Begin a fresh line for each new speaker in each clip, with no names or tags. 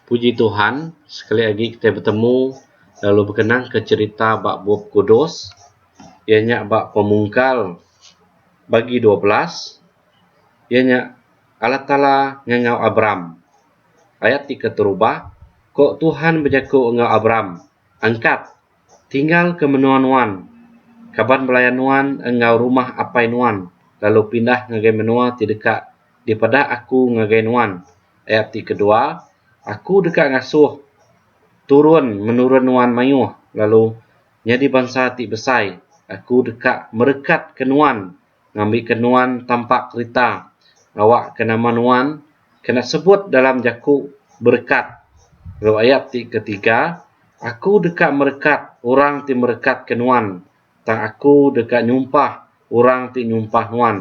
Puji Tuhan sekali agi kitai betemu lalu bekenangka cherita ba Bup Kudus iya nya ba Pemungkal bagi dua belas iya nya Allah Taala ngangau Abram. Ayat ti keterubah ko Tuhan bejaku enggau Abram angkat Tinggal ke menua nuan, kaban belaya nuan enggau rumah apai nuan lalu pindah ngagai menua ti deka dipeda Aku ngagai nuan. Ayat ti kedua, Aku deka ngasuh turun menurun nuan mayuh lalu nyadi bansa ti besai. Aku deka merekatka nuan ngambika nuan tampak kerita awakka nama nuan kena sebut dalam jaku berekat lalu ayat ti ketiga aku deka merekat orang ti merekatka nuan tang aku deka nyumpah orang ti nyumpah nuan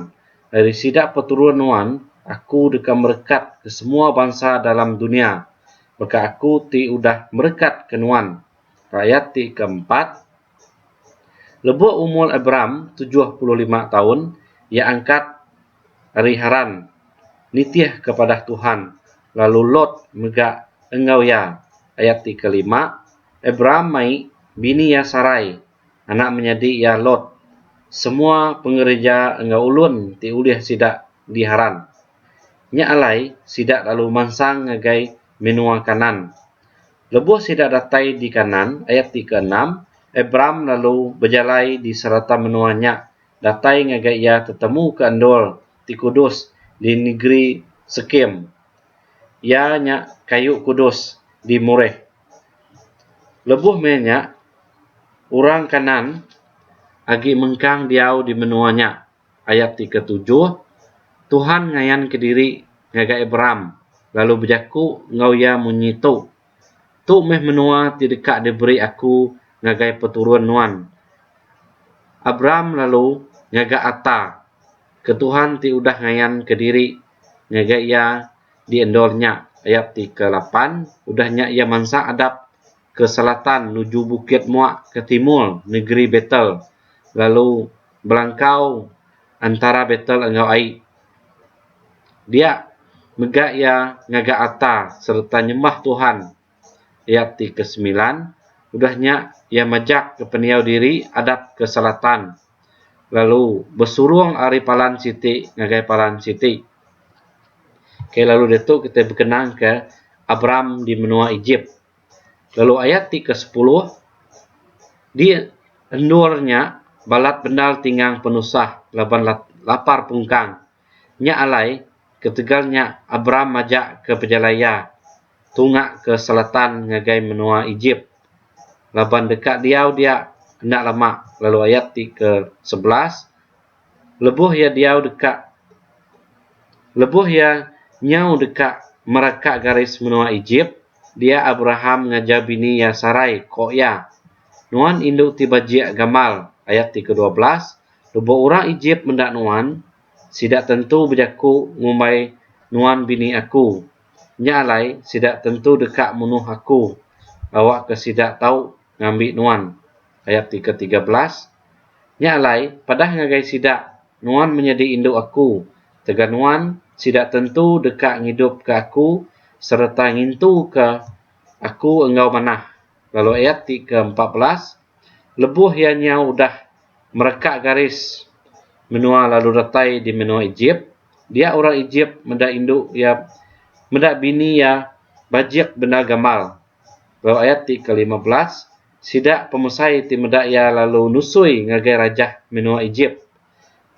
ari sida peturun nuan aku deka merekatka semua bansa dalam dunya baka aku ti udah merekatka nuan. Ayat ti keempat. Lebuh umur Abram tujuh puluh lima taun, iya angkat ari Haran nitih ke padah Tuhan, lalu Lot mega enggau iya. Ayat ti kelima, Abram mai bini iya Sarai, anak menyadi iya Lot, semua pengereja enggau ulun ti ulih sida di Haran. Nya alai sida lalu mansang ngagai menua Kanaan. Lebuh sida datai di Kanaan, ayat ti keenam, Abram lalu bejalai di serata menua nya datai ngagai iya tetemu ke endur ti kudus di negeri Sekem, iya nya kayu kudus di Moreh. Lebuh meh nya, orang Kanaan agi mengkang diau di menua nya Ayat ti ketujuh, Tuhan ngayan kediri ngagai Abram lalu bejaku enggau iya munyi tu, Tu meh menua ti deka diberi Aku ngagai peturun nuan. Abram lalu ngaga ata ke Tuhan ti udah ngayan kediri ngagai iya di endur nya. Ayat ti kelapan, Udah nya iya mansa adap ke selatan nuju bukit mua ke timur negeri Betel lalu. belangkau entara betel enggau ai. Dia mega iya ngaga alta sereta nyembah Tuhan iya ti ke semilan, udah nya iya majak ke pendiau diri adap ke selatan lalu besurung ari palan siti ngagai palan siti. Ke lalu ditu kitai bekenang ke Abram di menua Ejip. lalu ayat ti ke sepuluh di endur nya balat bendar ti ngang penusah laban lapar pungkang nya alai ketegal nya Abram majak ke pejalai iya tunga ke selatan ngagai menua Ejip laban deka diau dia enda lama lalu ayat ti ke sebelas lebuh iya diau deka lebuh iya nyau deka meraka garis menua Ejip, dia Abraham ngajar bini iya Sarai ko iya, Nuan indu ti bajik gamal, ayat ti kedua belas, lebuh orang Ejip meda nuan, sida tentu bejaku ngumbai nuan bini aku. Nya alai sida tentu deka munuh aku awakka sida tau ngambi nuan, ayat ti ke tiga belas, nya alai padah ngagai sida nuan menyadi indu aku tegan nuan sida tentu deka ngidupka aku sereta ngintuka aku enggau manah lalu ayat ti ke empat belas, lebuh iya nyau udah mereka garis menua lalu retai di menua Ejip, dia orang Ejip meda indu iya meda bini iya bajik bendar gamal Lalu ayat ti ke lima belas, Sida pemesai ti meda iya lalu nusui ngagai rajah menoa Ejip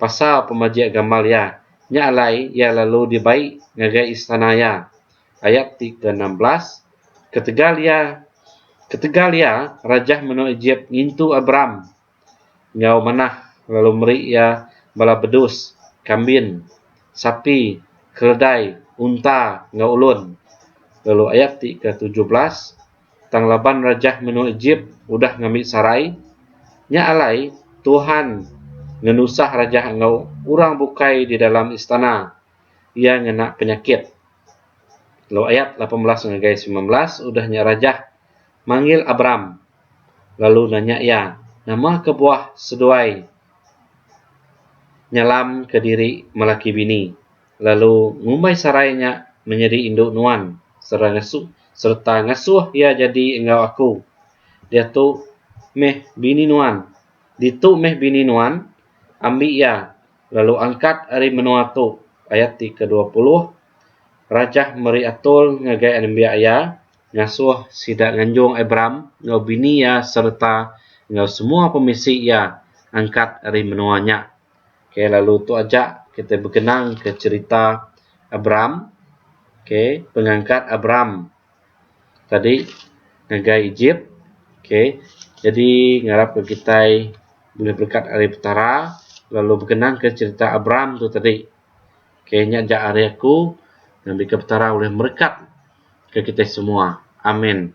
pasal pemajik gambar iya, nya alai iya lalu dibai ngagai istana iya. Ayat ti ke enam belas, Ketegal iya ketegal iya rajah menoa Ejip ngintu Abram. enggau manah lalu meri iya bala bedus, kambin, sapi, keledai, unta enggau ulun. Lalu ayat ti ketujuh belas, Tang laban rajah menua Ejip udah ngambi sarai, nya alai Tuhan ngenusah rajah enggau orang bukai di dalam istana, iya ngena penyakit. Lalu ayat lapan belas ngagai semilan belas, Udah nya rajah manggil Abram, lalu nanya iya, Nama kebuah seduai nyalam ke diri melaki bini, lalu ngumbai Sarai nya menyadi indu nuan sereta ngasuh iya jadi enggau aku? Diatu meh bini nuan, ditu meh bini nuan, ambi iya, lalu angkat ari menua tu. Ayat ti kedua puluh Rajah meri atul ngagai anembiak iya, ngasuh sida nganjung Abram enggau bini iya sereta enggau semua pemisi iya angkat ari menua nya. Okay, lalu tu aja kitai bekenangka cherita Abram. Okay, pengangkat Abram tadi ngagai Egypt. Okay, jadi ngarapka kitai bulih berekat ari Petara lalu bekenangka cherita Abram tu tadi. Ok nya ja ari aku ngambika petara ulih merekat ke kitai semua. Amin.